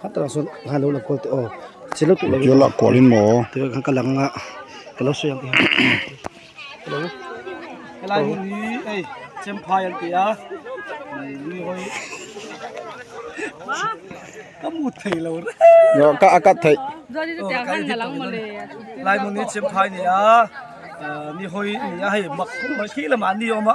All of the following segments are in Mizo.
Khatalang sawn a hlan lo la kual teh aw ka chhel lo tawh lo. Ka tihah kual in maw. Tih khan ka lang a ka lo sawi ang tih hian helai hmun hi ei chemphai an ti a mi hawi ka mut thei lo reng ka a cut thei helai hmun hi chemphai a ni a mi hawi a ni a hei mak kum khi lamah an ni awm a.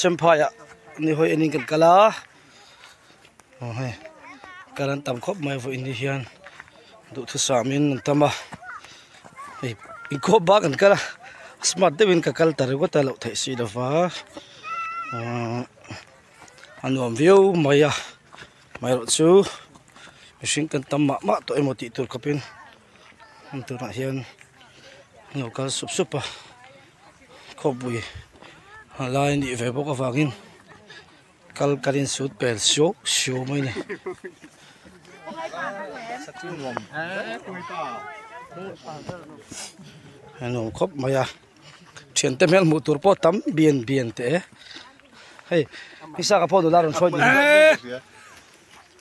Chemphaiah nihawi en in kan kal a. aw hei kal an tam khawp mai vawiin ni hian duhthusam in an tam a hei inkhawp bak an kal a smart deuhin ka kal ta ringawt a loh theih si lo va aaa a nuam viau mai a amaherawh chu mihring kan tam mah mah tawh emaw tih tur khawpin hemi tunah hian an lo kal sup sup a khawpui a lai anih ve bawk avangin. Kal kan in sut pel siu siu mai ni. A nuam khawp mai a. Thian te hmel hmuh tur pawh tam bian bian teh e. Hei, Isaac-a pawh nula rawn hruai duh hi.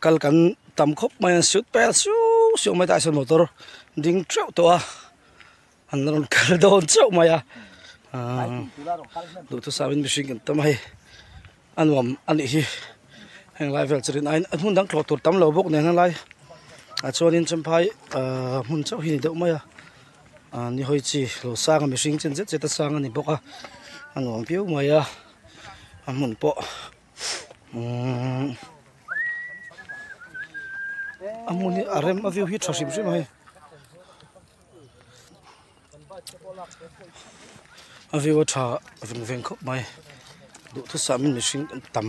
kal kan tam khawp mai a suit vel suau suau mai tahah sawn motor ding teuh teuh a an rawn kal dawn chauh mai a aaa duhthusam duhthusam in mihring kan tam a hei a nuam a nih hi heng lai vel chu rin aiin a hmun dang thlawh tur tam lo bawk nen a lai ah chuan in champhai aaa hmun chauh hi a ni deuh mai a. Ahh nihawi chi lo sang a mihring chen zet zet a sang a ni bawk a a nuam viau mai a a hmun pawh umm a hmun hi a rem a view hi a tha hrim hrim a hei a view a tha veng veng khawp mai duhthusam in mihring an tam.